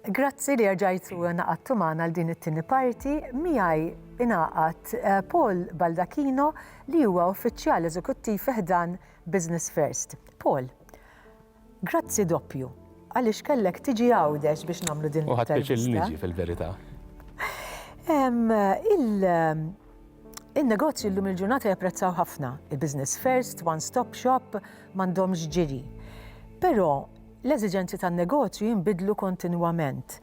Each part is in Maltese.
Grazzi li rġajtu naqattu magħna għal din it-tieni parti miegħi ingħaqad eh, Paul Baldacchino li huwa uffiċjal eżekuttiv ħdan Business First. Paul, Grazzi doppju, għaliex kellek tiġi Għawdex biex nagħmlu din l-intervista. U ħadt pjaċir li niġi fil-verità. Il-negozju llum il-ġurnata japprezzaw ħafna il-business first, one stop shop, m'għandhomx ġiri. Però l-eżiġenzi tan-negozju jinbidlu kontinwament.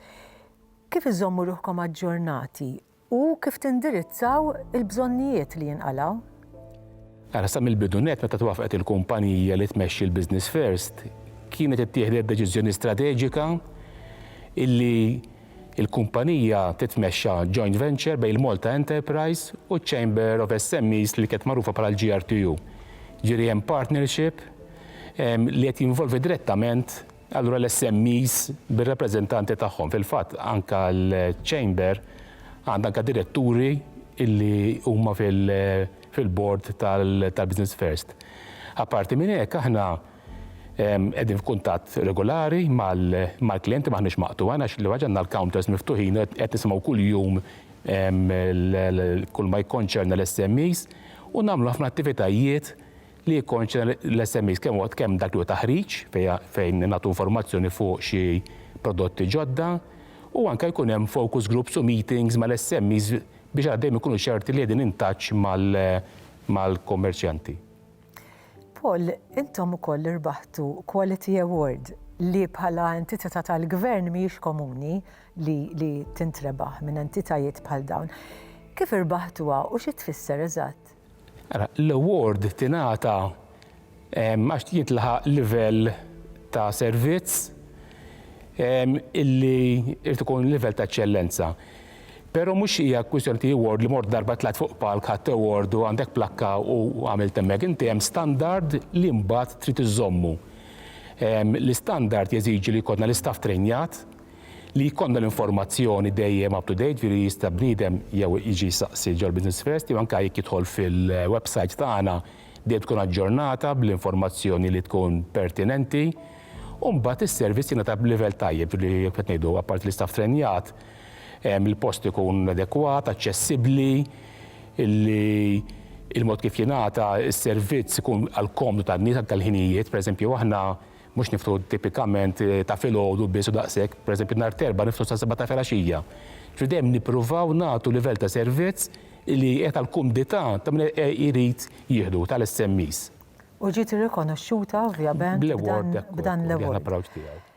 Kif iżommu ruħkom aġġornati u kif tindirizzaw il-bżonnijiet li jinqalgħu. Ara, sa mill-bidu nett meta twaffqet il-kumpanija li tmexxi l-Business First, kienet ittieħdet deċiżjoni strateġika illi l-kumpanija titmexxa joint venture bejn il-Malta Enterprise u ċ-Chamber of SMEs li kienet magħrufa bħala l-GRTU. Jiġifieri hemm partnership li qed jinvolvi direttament Allura l-SMEs bir-rappreżentanti tagħhom, fil-fatt anke l-Chamber għandha anke diretturi li huma fil-board tal-Business First. Apparti minn hekk aħna qegħdin f'kuntatt regolari mal-klijenti m'aħniex maqtugħa għax l-ewwel ħaġa għandna l-counters miftuħin u qed nisimgħu kuljum kull ma jikkonċerna l-SMEs u nagħmlu ħafna attivitajiet li jikkonċerna l-SMEs, kemm huwa kemm dak li huwa taħriġ fejn nagħtu informazzjoni fuq xi prodotti ġodda u anke jkun hemm focus groups u meetings mal-SMEs biex aħna dejjem inkunu ċerti li qegħdin in touch mal-kummerċjanti. Paul, intom ukoll irbaħtu Quality Award li bħala entitità tal-Gvern mhijiex komuni li tintrebaħ minn entitajiet bħal dawn. Kif irbaħtuha u xi tfisser eżatt? Ara, l-award tingħata għax jintlaħaq livell ta' servizz illi irid ikun livell ta' eċċellenza. Però mhux hija kwistjoni ta' award li mort darba tlajt fuq palk ħadt award u għandek plakka u għamilt hemmhekk. Inti hemm standard li mbagħad trid iżżommu. L-istandard jeżiġi li jkollna l-istaff trejnjat, Li jkollna l-informazzjoni dejjem up to date, jiġifieri li jista' bniedem jew jiġi jsaqsi ġol-Business First jew anke jekk jidħol fil-website tagħna dejjem tkun aġġornata bl-informazzjoni li tkun pertinenti. U mbagħad is-servizz jingħata b'livell tajjeb, jiġifieri kif qed ngħidu, apparti li staff trenjat, il-post ikun adekwat, aċċessibbli, li l-mod kif jingħata s-servizz ikun għall-komdu tan-nies anke l-ħinijiet. Pereżempju aħna Mhux niftu tipikament ta' filgħodu biss u daqshekk, pereżempju nhar t'Erbgħa niftu sas-sebgħa ta' filgħaxija. Ġifieri dejjem nippruvaw nagħtu livell ta' servizz li qiegħed għall-kumdità ta' min irid jieħdu, tal-SMEs. U ġiet irrikonoxxuta ovvjament b'dan l-award.